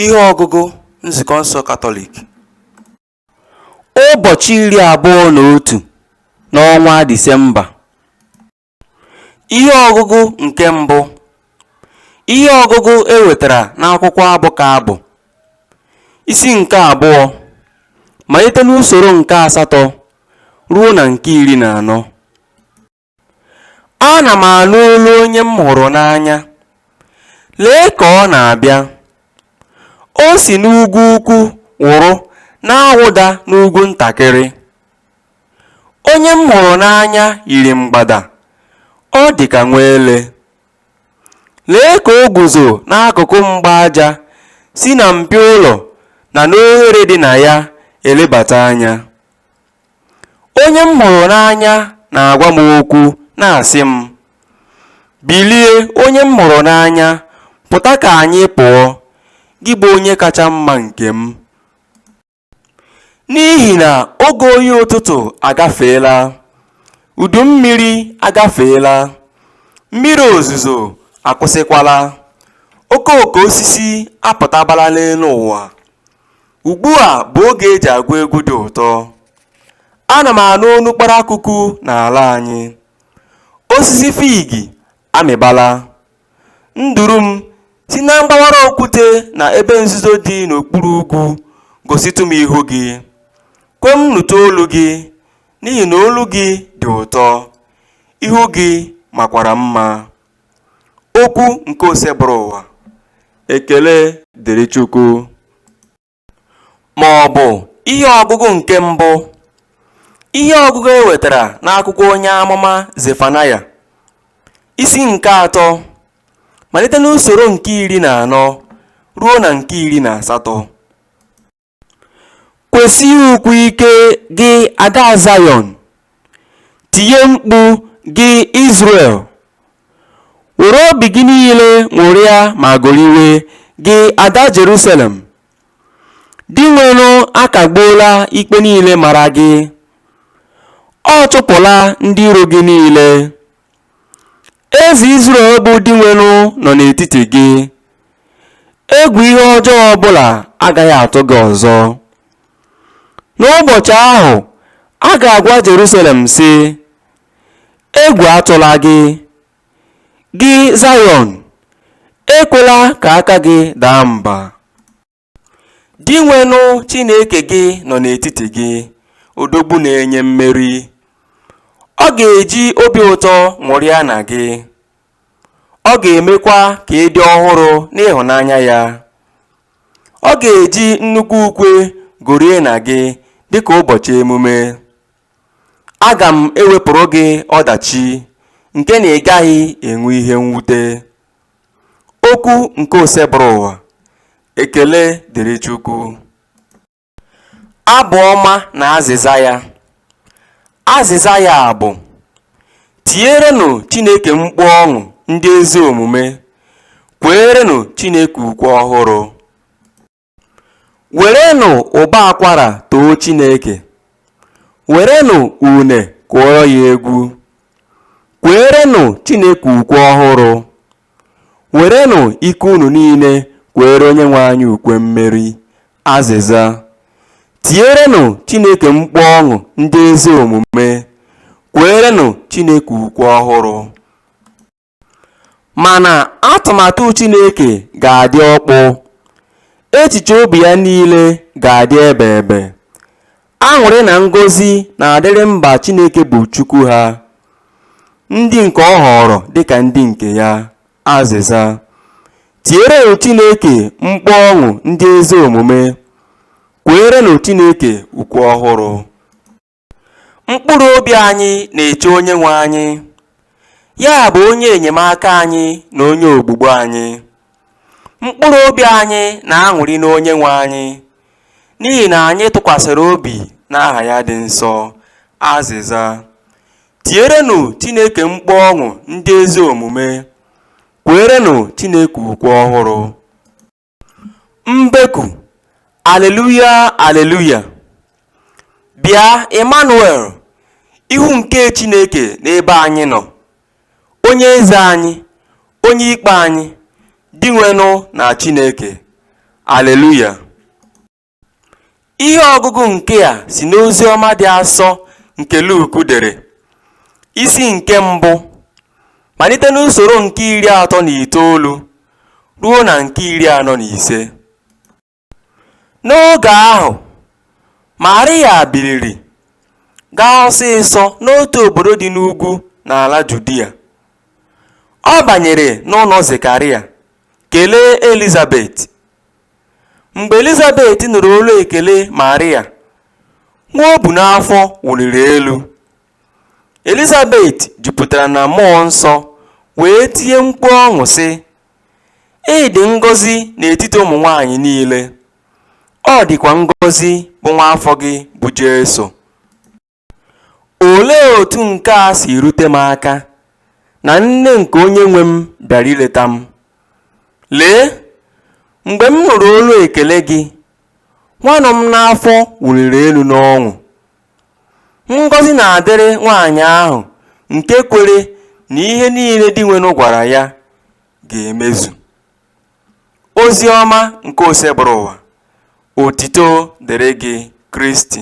Ihe ọgụgụ Nzukọ nsọ Katọlik Ụbọchị iri abụọ na otu n'ọnwa Disemba Ihe ọgụgụ nke mbụ Ihe ọgụgụ e wetara n'akwụkwọ abụ ka abụ isi nke abụọ malite n'usoro nke asatọ ruo na nke iri na anọ Ana m anụ olu onye m hụrụ n'anya, lee ka ọ na-abịa! O si n'ugwu ukwu wụrụ na-awụda n'ugwu ntakịrị. Onye m hụrụ n'anya yiri mgbada, ọ dị ka nwa ele. Lee ka o guzo n'akụkụ mgba aja si na mpio ụlọ na n'oghere dị na ya elebata anya. Onye m hụrụ n'anya na-agwa m okwu, na-asị m, Bilie, onye m hụrụ n'anya, pụta ka anyị pụọ, gị bụ onye kacha mma nke m. N'ihi na oge oyi ụtụtụ agafeela, udu mmiri agafeela, mmiri ozuzo akwụsịkwala, okooko osisi apụtabala n'elu ụwa, Ugbu a bụ oge e ji agụ egwu dị ụtọ. Ana m anụ olu kparakwukwu n'ala anyị. Osisi fiigi amịbala. Nduru m si na mgbawara okwute na ebe nzuzo dị n'okpuru ugwu gositụ m ihu gị. Kwe m nụtụ olu gị n'ihi na olu gị dị ụtọ, ihu gị makwara mma. Okwu nke Osebụrụwa. Ekele dịrị Chukwu. Ma ọ bụ ihe ọgụgụ nke mbụ. Ihe ọgụgụ e wetara n'akwụkwọ onye amụma Zefanaya, isi nke atọ, malite n'usoro nke iri na anọ ruo na nke iri na asatọ. Kwesie ukwe ike, gị ada Zayọn, tie mkpu, gị Izrel. Were obi gị niile ṅụrịa ma goriwe, gị ada Jerusalem. Dinwenụ akagbuola ikpe niile mara gị, ọ chụpụla ndị iro gị niile. Eze Izrel bụ Dinwenụ nọ n'etiti gị. Egwu ihe ọjọọ ọbụla agaghị atụ gị ọzọ. N'ụbọchị ahụ, a ga-agwa Jerusalem sị, Egwu atụla gị. Gị Zayọn, ekwela ka aka gị daa mba. Dinwenụ Chineke gị nọ n'etiti gị, odogwu na-enye mmeri. Ọ ga-eji obi ụtọ ṅụrịa na gị, ọ ga-emekwa ka ị dị ọhụrụ n'ịhụnanya ya. Ọ ga-eji nnukwu ukwe gorie na gị dị ka ụbọchị emume. Aga m ewepụrụ gị ọdachi nke na ị gaghị enwe ihe mwute. Okwu nke Osebụrụwa, Ekele dịrị Chukwu. Abụ ọma na azịza ya. Azịza ya bụ, Tierenụ Chineke mkpu ọṅụ ndị ezi omume, kweerenụ Chineke ukwe ọhụrụ. Werenụ ụbọ akwara too Chineke, werenụ une kụọrọ ya egwu. Kweerenụ Chineke ukwe ọhụrụ, werenụ ike unu niile kweere Onyenwe anyị ukwe mmeri. Azịza, Tierenụ Chineke mkpu ọṅụ ndị ezi omume, kweerenụ Chineke ukwe ọhụrụ. Mana atụmatụ Chineke ga-adị ọkpụ, echiche obi ya niile ga-adị ebeebe. Aṅụrị na ngọzi na-adịrị mba Chineke bụ Chukwu ha, ndị nke ọ họọrọ dịka ndị nke ya. Azịza, Tierenụ Chineke mkpu ọṅụ ndị ezi omume, kweerenụ Chineke ukwe ọhụrụ. Mkpụrụ obi anyị na-eche Onyenwe anyị, ya bụ onye enyemaka anyị na onye ogbugbo anyị. Mkpụrụ obi anyị na-aṅụrị n'Onyenwe anyị, n'ihi na anyị tụkwasịrị obi n'aha ya dị nsọ. Azịza. Tierenụ Chineke mkpu ọṅụ ndị ezi omume, kweerenụ Chineke ukwe ọhụrụ. Mbeku, Aleluya, Aleluya! Bịa, Imanuel, ihu nke Chineke n'ebe anyị nọ, Onye eze anyị, Onye ikpe anyị, Dinwenụ na Chineke. Aleluya! Ihe ọgụgụ nke a si n'ozi ọma dị asọ nke Luk dere, isi nke mbụ, malite n'usoro nke iri atọ na itoolu ruo na nke iri anọ na ise. N'oge ahụ, Maria biliri gaa ọsịsọ n'otu obodo dị n'ugwu n'ala Judia. Ọ banyere n'ụlọ Zekaria kelee Elizabet. Mgbe Elizabet nụrụ olu ekele Marịa, nwa o bu n'afọ wụliri elu. Elizabet jupụtara na mmụọ nsọ wee tie mkpu ọṅụ sị, Ị dị ngọzi n'etiti ụmụ nwaanyị niile, ọ dịkwa ngọzi bụ nwa afọ gị bụ Jesu. Olee otu nke a si rute m aka na nne nke onye nwe m bịara ileta m? Lee, mgbe m nụrụ olu ekele gị, nwa nọ m n'afọ wụliri elu n'ọṅụ. Ngọzi na-adịrị nwaanyị ahụ nke kwere na ihe niile Dinwenụ gwara ya ga-emezu. Ozi ọma nke Osebụrụwa, otito dịrị gị Kristi.